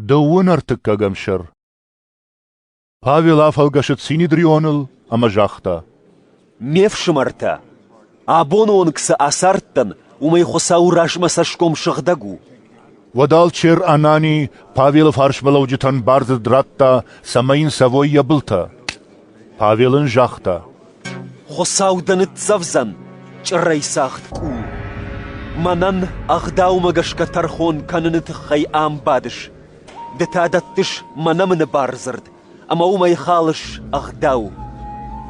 Дыууын ӕртыккӕгӕм сӕр Павел афӕлгӕсыд Синидрионыл ӕмӕ загъта. «Ме фсымӕртӕ, абоны онг цы ацардтӕн, уымӕй Хуыцауы размӕ цӕсгом сыгъдӕг у». Уӕд алчер Анани Павелы фарсмӕлӕуджытӕн бардзырд радта, цӕмӕй йын цӕвой йӕ былтӕ. Павел ын загъта: «Хуыцау дӕ ныццӕвдзӕн, чъырӕйцагъд къул. Мӕнӕн ӕгъдаумӕ гӕсгӕ тӕрхон кӕныны тыххӕй ам бадыс. Ды та дӕттыс мӕ нӕмыны бардзырд, ӕмӕ уымӕй халыс ӕгъдау».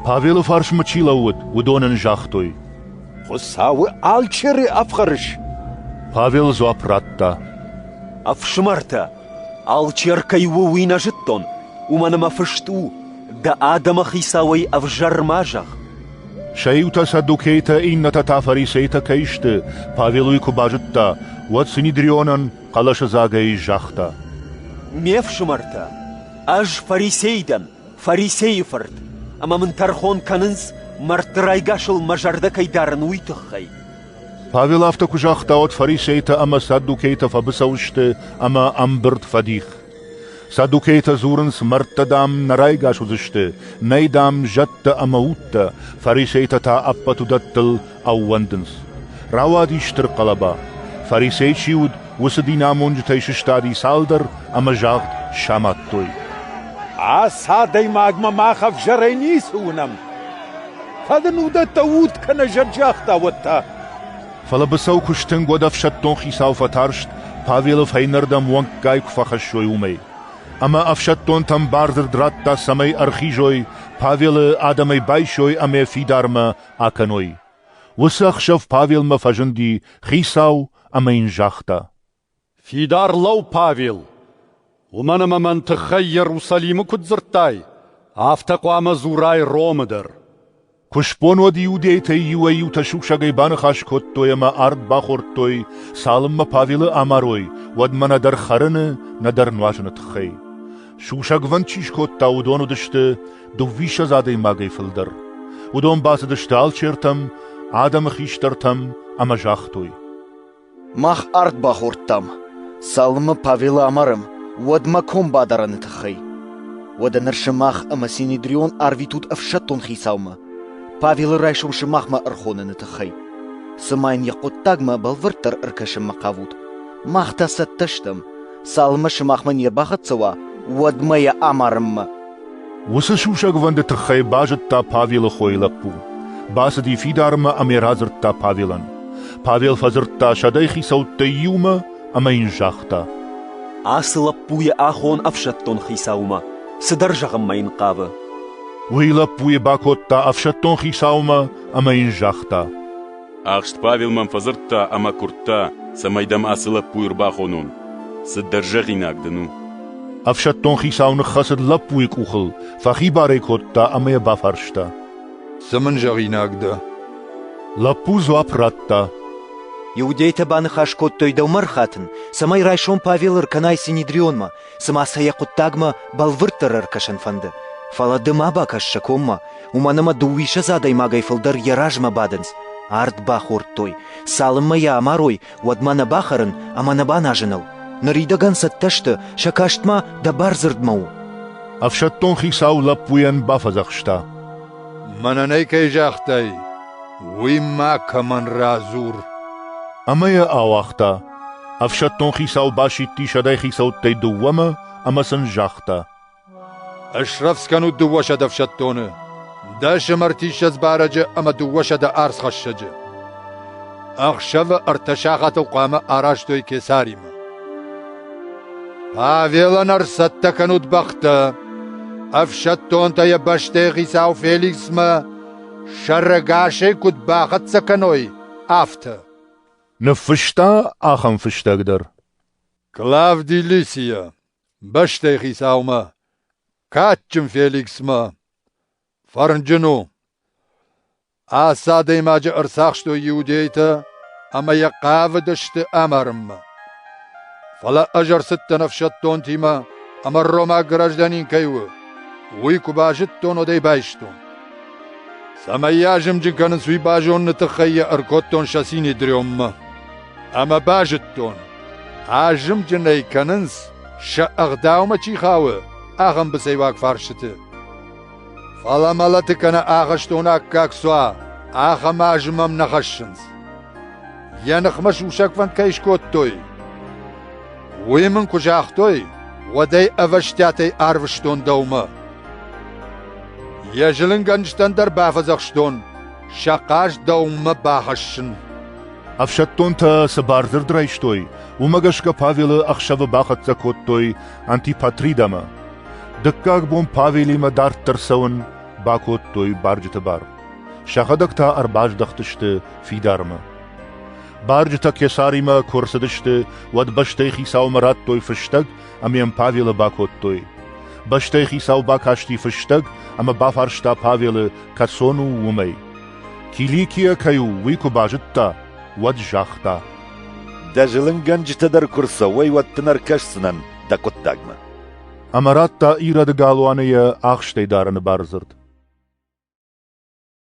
Павелы фарсмӕ чи лӕууыд, уыдон ын загътой: «Хуыцауы алчеры ӕфхӕрыс?» Павел дзуапп радта: «Ӕфсымӕртӕ, Алчер кӕй у, уый нӕ зыдтон, уымӕн ӕмӕ фыст у: «Дӕ адӕмы хицауӕй ӕвзӕр ма зӕгъ». Сӕ иутӕ саддукейтӕ, иннӕтӕ та фарисейтӕ кӕй сты, Павел уый куы базыдта, уӕд Синидрионӕн хъӕлӕсыдзагӕй загъта: «Ме фсымӕртӕ, ӕз фарисей дӕн, Фарисейы фырт, ӕмӕ мын тӕрхон кӕнынц, мӕрдты райгасыл мӕ зӕрдӕ кӕй дарын, уый тыххӕй. Павел афтӕ куы загъта, уӕд фарисейтӕ ӕмӕ саддукейтӕ фӕбыцӕу сты ӕмӕ ӕмбырд фӕдих. Саддукейтӕ дзурынц мӕрдтӕ, дам, нӕ райгас уыдзысты, нӕй, дам, зӕдтӕ ӕмӕ удтӕ, фарисейтӕ та ӕппӕт уыдӕттыл ӕууӕндынц. Рауади стыр хъӕлӕба. Фарисей чи уыд, уыцы динамонджытӕй сыстади цалдӕр ӕмӕ загъд самадтой. Ацы адӕймагмӕ мах ӕвзӕрӕй ницы уынӕм. Фӕлӕ нын уыдӕттӕ уд кӕнӕ зӕр загъта, уӕд та? Фӕлӕ быцӕу куы стынг, уӕд ӕфсӕддон хицау фӕтарст, Павелы фӕйнӕрдӕм уӕнггай куы фӕхӕссой, уымӕй. Ӕмӕ ӕфсӕддонтӕм бардзырд радта, цӕмӕй ӕрхизой, Павелы адӕмӕй байсой ӕмӕ фидармӕ акӕной. Уыцы ӕхсӕв Павелмӕ фӕзынди хицау ӕмӕ йын загъта. Фидар лӕу, Павел! Уымӕн ӕмӕ мӕн тыххӕй Иерусалимы куыд дзырдтай, афтӕ хъуамӕ дзурай Ромы дӕр. Куы сбон уӕд иудейтӕй иуӕй-иутӕ сусӕгӕй баныхас кодтой ӕмӕ ард бахордтой, цалынмӕ Павелы амарой, уӕдмӕ нӕдӕр хӕрыны, нӕдӕр нуазыны тыххӕй. Сусӕгвӕнд чи скодта, уыдон уыдысты дыууиссӕдз адӕймагӕй фылдӕр. Уыдон бацыдысты алчертӕм, адӕмы хистӕртӕм ӕмӕ загътой. Мах ард бахордтам, цалынмӕ Павелы амарӕм, уӕдмӕ ком бадарӕны тыххӕй. Уӕдӕ ныр сымах ӕмӕ Синедрион арвитут ӕфсӕддон хицаумӕ, Павелы райсом сымахмӕ ӕрхоныны тыххӕй. Цыма йын йӕ хъуыддагмӕ бӕлвырддӕр ӕркӕсынмӕ хъавут, мах та цӕттӕ стӕм, Цалынмӕ сымахмӕ не рбахӕццӕ уа, уӕдмӕ йӕ амарынмӕ. Уыцы сусӕгвӕнды тыххӕй базыдта Павелы хойы лӕппу. Бацыди фидармӕ ӕмӕ радзырдта Павелӕн. Павел фӕдзырдта сӕдӕй хицӕуттӕй иумӕ ӕмӕ йын загъта. Ацы лӕппу йӕ ахон ӕфсӕддон хицаумӕ. Цыдӕр зӕгъынмӕ йын хъавы. Уый лӕппуйы бакодта ӕфсӕддон хицаумӕ ӕмӕ йын загъта. Ӕхст Павел мӕм фӕдзырдта ӕмӕ куырдта, цӕмӕй дӕм ацы лӕппуйы ӕрбаходон. Цыдӕр зӕгъинаг дын у. Ӕфсӕддон хицау ныххӕцыд лӕппуйы къухыл, фӕхибар ӕй кодта ӕмӕ йӕ бафарста. Цы мын зӕгъинаг дӕ? Лӕппу дзуапп радта. Иудейтӕ баныхас кодтой дӕумӕ рхатын, цӕмӕй райсом Павел ӕркӕнай Синедрионмӕ, цыма сӕ йӕ хъуыддагмӕ бӕлвырддӕр ӕркӕсын фӕнды, фӕлӕ ды ма бакӕс сӕ коммӕ, уымӕн ӕмӕ дыууиссӕдз адӕймагӕй фылдӕр йӕ размӕ бадынц, ард бахордтой, цалынмӕ йӕ амарой, уӕдмӕ нӕ бахӕрын ӕмӕ нӕ баназыныл. Ныридӕгӕн цӕттӕ сты, сӕ каст ма дӕ бардзырдмӕ у. Ӕфсӕддон хицау лӕппуйӕн бафӕдзӕхста. Мӕнӕ нӕ кӕй загътай, уый ма кӕмӕн радзур. Ӕмӕ йӕ ауагъта. Ӕфсӕддон хицау басидти сӕдӕй хицӕуттӕй дыууӕмӕ ӕмӕ сын загъта. Ысрӕвдз кӕнут дыууӕсӕдз ӕфсӕддоны, дӕс ӕмӕртиссӕдз барӕджы ӕмӕ дыууӕсӕдӕ ӕрдзхӕссӕджы. Ӕхсӕвы ӕртӕ сахатыл хъуамӕ арӕзтой кесаримӕ. Павелӕн ӕрцӕттӕ кӕнут бӕхтӕ, ӕфсӕддонтӕ йӕ бӕстӕйы хицау Феликсмӕ сӕрӕгасӕй куыд бахӕццӕ кӕной, афтӕ. Ныффыста ахӕм фыстӕг дӕр: Клавди Лисия, бӕстӕйы хицаумӕ, кадджын Феликсмӕ, фӕрнджын у. Ацы адӕймаджы ӕрцахстой иудейтӕ ӕмӕ йӕ хъавыдысты амарынмӕ. Фӕлӕ ӕз ӕрцыдтӕн ӕфсӕддонтимӕ, ӕмӕ ромаг гражданин кӕй у, уый куы базыдтон, уӕд ӕй байстон. Цӕмӕй йӕ азымджын кӕнынц, уый базоныны тыххӕй йӕ ӕркодтон сӕ синедриоммӕ. Ӕмӕ базыдтон, азымджын ӕй кӕнынц, сӕ ӕгъдаумӕ чи хауы, ахӕм быцӕйуаг фарсыты. Фӕлӕ мӕлӕты кӕнӕ ахӕстоны аккаг цу уа, ахӕм азы мӕм нӕ хӕссынц. Йӕ ныхмӕ сусӕгфӕнд кӕй скодтой, уый мын куы загътой, уӕд ӕй ӕвӕстиатӕй арвыстон дӕумӕ. Йӕ зылынгӕнджытӕн дӕр бафӕдзӕхстон сӕ хъаст дӕумӕ бахӕссын. Ӕфсӕддонтӕ цы бардзырд райстой, уымӕ гӕсгӕ Павелы ӕхсӕвы бахӕццӕ кодтой Антипатридамӕ. Дыккаг бон Павелимӕ дарддӕр цӕуын бакодтой барджыты бар. Сӕхӕдӕг та ӕрбаздӕхтысты фидармӕ. Барджытӕ Кесаримӕ куы ӕрцыдысты, уӕд бӕстӕйы хицаумӕ радтой фыстӕг ӕмӕ йӕм Павелы бакодтой. Бӕстӕйы хицау бакасти фыстӕг ӕмӕ бафарста Павелы, кӕцон у уымӕй. Киликийӕ кӕй у, уый куы базыдта, уӕд загъта. Дӕ зылынгӕнджытӕ дӕр куы рцӕуой, уӕд дын ӕркӕсдзынӕн дӕ хъуыддагмӕ. Ӕмӕ радта ирӕды галуаны йӕ ахстӕй дарыны бардзырд.